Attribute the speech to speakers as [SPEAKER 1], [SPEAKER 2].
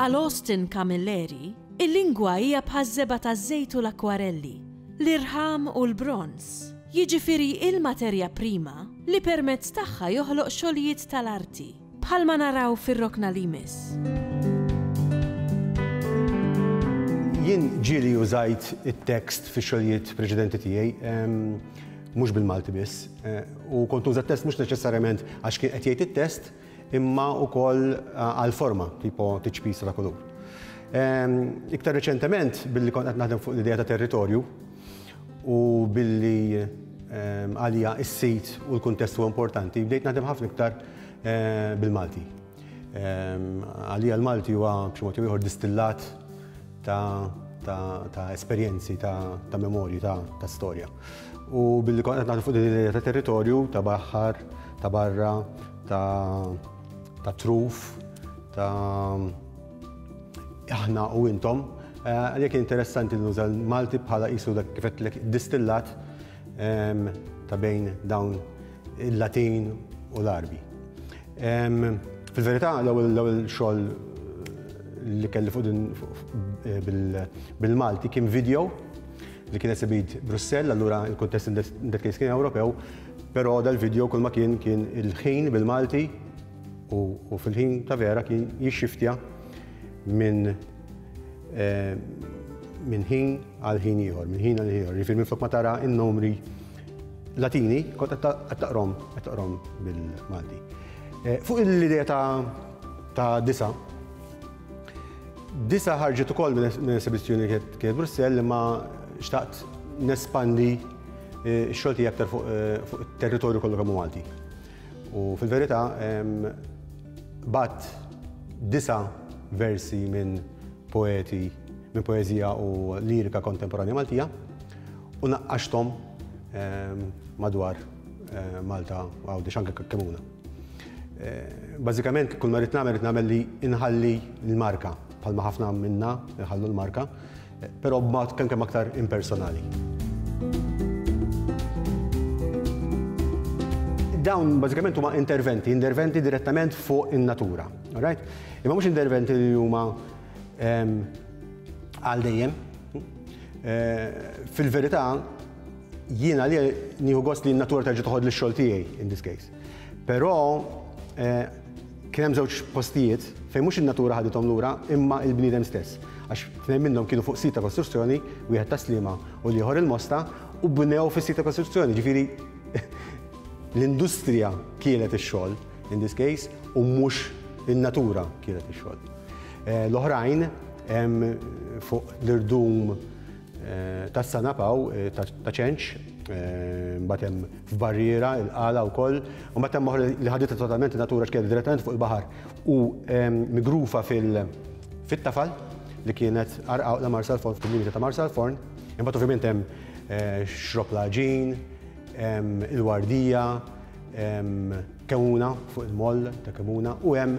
[SPEAKER 1] Għal Austin Camilleri, il-lingwa hija bħaż-żebgħa taż-żejt u l-akkwarelli, l-irħam u l-bronż, jiġifieri il-materja prima li permezz tagħha joħloq xogħlijiet tal-arti. Bħalma naraw fir-rokna li jmiss.
[SPEAKER 2] Jien ġieli użajt it-tekst fix-xogħlijiet preċedenti tiegħi, mhux bil-Malti biss, u kont uża t-test mhux neċessarjament għax kien qed jgħid it-test, imma wkoll għall-forma, tipo tiċpisa ta' kulur. Iktar reċentement, billi kont qed naħdem fuq l-idea ta' territorju, u billi għalija s-sit u l-kuntest huwa importanti, bdejt naħdem ħafna iktar eh, bil-Malti. Għalija l-Malti huwa b'xi mod ieħor distillat ta' esperjenzi, ta' memorji, ta' storja. U billi kont qed fuq din ta' territorju ta' baħħar, ta' barra, ta' truf, ta' aħna u intom, għalhekk interessanti li nuża l-Malti bħala qisu dak kif qedtlek distillat ta' bejn dawn il-Latin u l-Arbi. Fil-verità, l-ewwel xogħol li kelli fuq din bil-Malti kien video li kien esibit Brussell, allura il-kontest in that case kien Ewropew, però dal-video kull ma kien kien il-ħin bil-Malti U fil-ħin ta' vera kien jixxiftja minn eh, minn ħin għal ħin ieħor, minn ħin għal ieħor. Jiġifieri minflok ma tara n-numri Latini, kont qed taqrom, qed taqrom bil-Malti. Eh, fuq l-idea ta' disa, disa ħarġet ukoll minn esibizzjoni kienet Brussell li ma xtaqt nespandi eh, x-xogħol tiegħi aktar fuq it-territorju kollu kemm Malti. U fil-verità bgħatt disa' versi minn poeti, minn poeżija u lirika kontemporanja Maltija u naqqaxthom madwar Malta Għawdex anke Kakkemuna. Bażikament kull ma rrid nagħmel rrid nagħmel li inħalli l-marka bħalma ħafna minna jħallu l-marka, Però b'mod kemkemm aktar impersonali. dawn bażikament huma interventi, interventi direttament fuq in-natura. Right? Imma mhux interventi li huma ehm, għal dejjem. Eh, fil-verità, jiena li nieħu gost li n-natura terġa' toħod lix-xogħol tiegħi in this case. Però eh, Kien hemm żewġ postijiet fejn mhux in-natura ħadithom lura imma l-bniedem stess, għax tnejn minnhom kienu fuq sit ta' kostruzzjoni, wieħed tas-Sliema u l-ieħor il-Mosta, u bnew fis-sit ta' kostruzzjoni, jiġifieri l-industrija kielet ix-xogħol in this case u mhux in-natura kielet ix-xogħol. L-oħrajn hemm fuq l-irdum Tas-Sanab hawn, ta' Ċenċ, mbagħad hemm f'Barriera, il-Qala wkoll, u mbagħad hemm oħra li ħaditha totalment in-natura x'kienet direttament fuq il-baħar u migrufa fit-Tafal li kienet Qarqawqla Marsalforn fil-limiti ta' Marsalforn. Imbagħad ovvjament hemm Xrob l-Għaġin, hemm il-Wardija, hemm Kemmuna fuq il-moll ta' Kemmuna u hemm